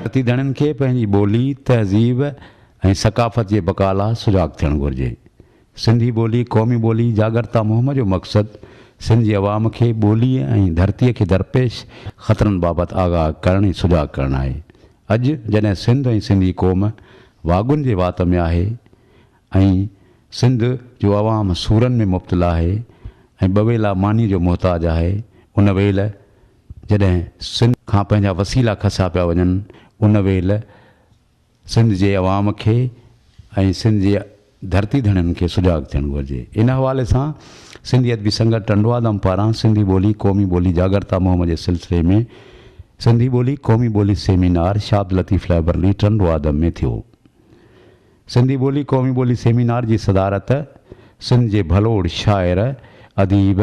ڀارتي ڌڻين کي پنهنجي ٻولي، تهذيب ۽ ثقافت جي بقا لا سجاڳ ٿيڻ گهرجي. سنڌي ٻولي قومي ٻولي جاڳرتا مهم جو مقصد سنڌ جي عوام کي ٻولي ۽ ڌرتي کي درپيش خطرن بابت آگاهه ڪرڻ ۽ سجاڳ ڪرڻ آهي. اڄ جڏهن سنڌ ۽ سنڌي قوم واڳن جي وات ۾ آهي ۽ سنڌ جو عوام سورن ۾ مبتلا آهي ۽ ٻويلا مانيء جو محتاج آهي ان ويل جڏهن سنڌ کان پنهنجا وسيلا کسيا پيا وڃن ان ويل سنڌ جي عوام کي ۽ سنڌ جي ڌرتي ڌڻين کي سجاڳ ٿيڻ گهرجي ان حوالي سان سنڌي ادبي سنگت ٽنڊوادم پاران سنڌي ٻولي قومي ٻولي جاڳرتا مهم جي سلسلي ۾ سنڌي ٻولي قومي ٻولي سيمينار شاهد لطيف لائبرلي ٽنڊوادم ۾ ٿيو سنڌي ٻولي قومي ٻولي سيمينار جي صدارت سنڌ جي ڀلوڙ شاعر اديب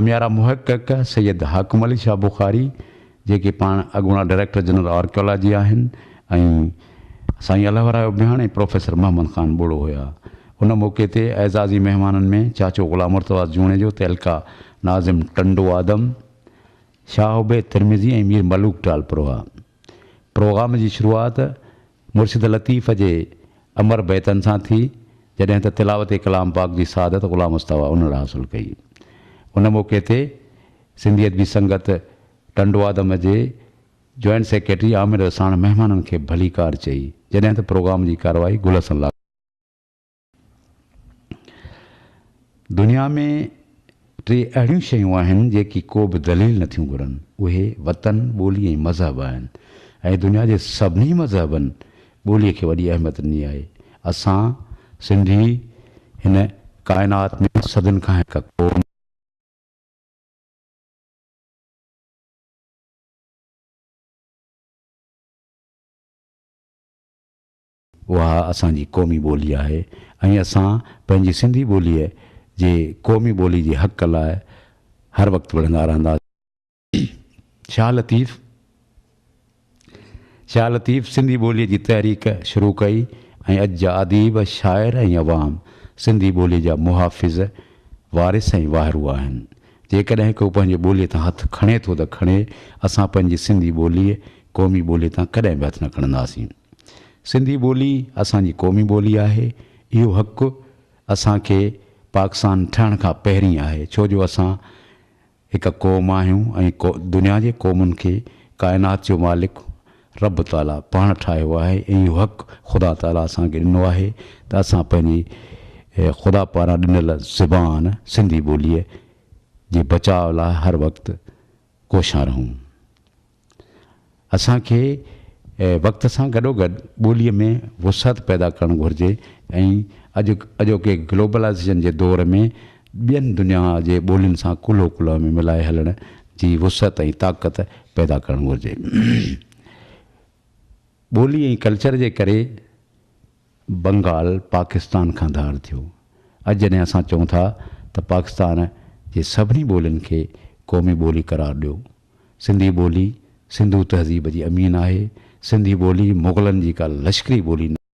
هميارا محقق سيد حاڪم علي شاهه بخاري جيڪي پاڻ اڳوڻا ڊائريڪٽر جنرل آرڪيالاجي آهن ۽ سائين الله ورايه ابهياڻ ۽ پروفيسر محمد خان ٻوڙو هيا. ان موقعي تي اعزازي مهمانن ۾ چاچو غلام مرتضيٰ جوڻيجو، تعلقه ناظم ٽنڊو آدم، شاهه عبيد ترمذي ۽ مير ملوڪ ٽالپر هئا. پروگرام جي شروعات مرشد لطيف جي امر بيتن سان ٿي، جڏهن ته تلاوت ڪلام پاڪ جي سعادت غلام مصطفيٰ انڙ حاصل ڪئي. ان موقعي تي سنڌي ادبي سنگت ٽنڊوآدم جي جوائنٽ سيڪريٽري عامر رساڻ مهمانن کي ڀليڪار چئي، جڏهن ته پروگرام جي ڪارروائي گل حسن لاکاڻي، دنيا ۾ ٽي اهڙيون شيون آهن جيڪي ڪو به دليل نه ٿيون گهرن اهي وطن، ٻولي ۽ مذهب آهن ۽ دنيا جي سڀني مذهبن ٻولي کي وڏي اهميت ڏني آهي. اسان سنڌي هن ڪائنات ۾ صدين کان هڪ قوم. اها اسان جي قومي ٻولي آهي ۽ اسان پنهنجي سنڌي ٻوليء جي قومي ٻولي جي حق لاء هر وقت وڙهندا رهنداسين. شاهه لطيف شاهه لطيف سنڌي ٻوليء جي تحريڪ شروع ڪئي ۽ اڄ جا اديب، شاعر ۽ عوام سنڌي ٻوليء جا محافظ، وارث ۽ واهرو آهن. جيڪڏهن ڪو پنهنجي ٻوليء تان هٿ کڻي ٿو ته کڻي، اسان پنهنجي سنڌي ٻوليء، قومي ٻوليء تان ڪڏهن به هٿ نه کڻنداسين. سنڌي ٻولي اسان جي قومي ٻولي آهي. اهو حق اسان کي پاڪستان ٺهڻ کان پهرين آهي، ڇو جو اسان هڪ قوم آهيون ۽ دنيا جي قومن کي ڪائنات جو مالڪ رب تعاليٰ پاڻ ٺاهيو آهي ۽ اهو حق خدا تعاليٰ اسان کي ڏنو آهي ته اسان پنهنجي خدا پاران ڏنل زبان سنڌي ٻوليء جي بچاء لاء هر وقت ڪوشان رهون. اسان کي وقت سان گڏوگڏ ٻوليء ۾ وسعت پيدا ڪرڻ گهرجي ۽ اڄ اڄوڪي گلوبلائيزيشن جي دور ۾ ٻين دنيا جي ٻولين سان ڪلهو ڪلهو ۾ ملائي هلڻ جي وسعت ۽ طاقت پيدا ڪرڻ گهرجي. ٻولي ۽ ڪلچر جي ڪري بنگال پاڪستان کان ڌار ٿيو. اڄ جڏهن اسان چئون ٿا ته پاڪستان جي سڀني ٻولين کي قومي ٻولي قرار ڏيو. سنڌي ٻولي سنڌو تهذيب جي امين آهي. سنڌي ٻولي مغلن جي ڪا لشڪري ٻولي نه.